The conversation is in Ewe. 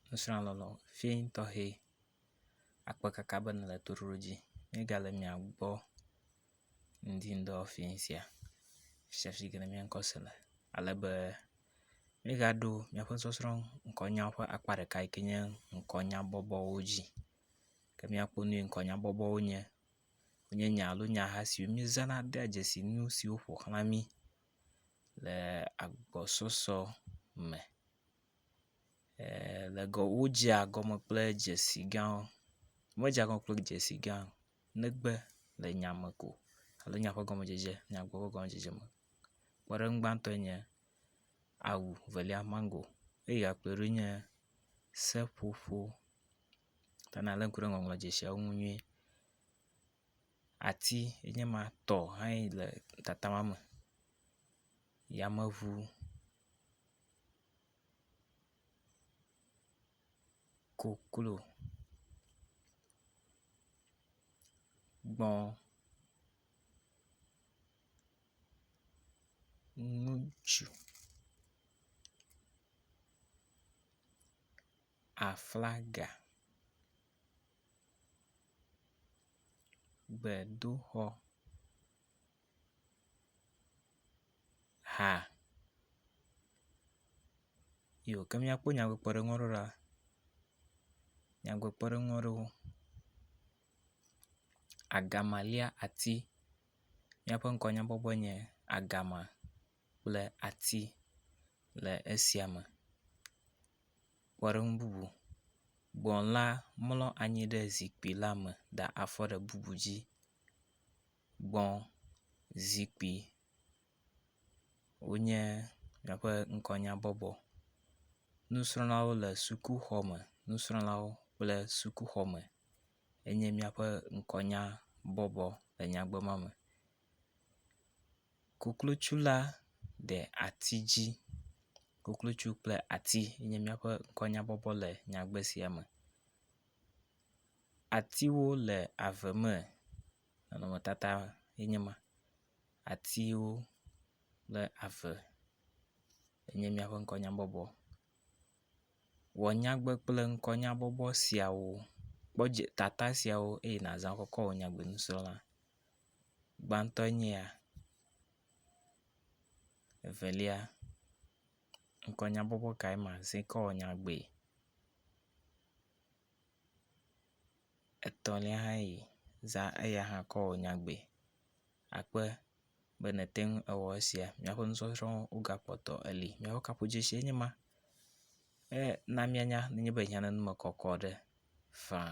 nusrɔ̃lɔlɔ vi tɔxɛ akpe kaka be nèle toɖoɖo dzi míegale mia gbɔ ŋdi ŋdɔ fi sia sia si ke mía ŋkɔ se le ale be míegaɖo míaƒe sɔsrɔ̃ ŋkɔnyawo ƒe akpa ɖeka si nye ŋkɔnya bɔbɔwo dzi ke míakpɔ nu si ŋkɔnya bɔbɔwo nye. Wonye nya alo nyaha siwo míezãna dea dzesi nu siwo ƒo xlã mí le agbɔsɔsɔ me. le gɔ wodzea gɔme kple dzesi gãwo. Medzea gɔme kple dzesi gã o negbe le nya me ko alo nya ƒe gɔmedzedze nya ƒe gɔmedzedze me. Kpɔɖeŋu gbãtɔe nye awu evelia mago eye akplɔe ɖo nye seƒoƒo ta nalé ŋku ɖe ŋɔŋlɔ dzesiawo ŋu nyuie. Ati ye nye ma tɔ hãe le tatama me. Yameŋu. koklo, gbɔ̃, ŋutsu, aflaga, gbedoxɔ. ha iyo ke míakpɔ nyadzikpɔɖeŋu aɖewo ɖa, nyadzikpɔɖeŋu aɖewo, agama lia ati, míaƒe ŋkɔ nyakpɔkpɔ enye agama kple ati le esia me. Kpɔɖeŋu bubu, gbɔ̃ la mlɔ anyi ɖe zikpui la me da afɔ ɖe bubu dzi. gbɔ zikpui wonye míaƒe ŋkɔnyabɔbɔ. Nusrɔ̃lawo le sukuxɔme. Nusrɔ̃lawo kple sukuxɔme enye míaƒe ŋkɔnyabɔbɔ le nyagbe ma me. Koklotsu la de ati dzi. Koklotsu kple ati enye míaƒe ŋkɔnyabɔbɔ le nyagbe sia me. Atiwo le ave me. Nɔnɔmetata ye nye ma. Atiwo kple ave enye míaƒe ŋkɔnyabɔbɔ. Wɔ nyagbe kple ŋkɔnyabɔbɔ siawo. Kpɔ dzi tata siawo eye nàzã kɔ kɔ wɔ nyagbenusrɔ̃la. Gbãtɔ nye ya. Evelia, ŋkɔnyabɔbɔ kae mazã kɔ awɔ nyagbee? etɔ̃lia hã yi za eya hã kɔ wɔ nyagbee. Akpe be nète ŋu awɔ esia míaƒe nusɔsrɔ̃wo wogakpɔtɔ eli. Míaƒe kaƒodzesie nye ma. Ena míanya nenye be hiãnɔ nu me kɔkɔ ɖe faa.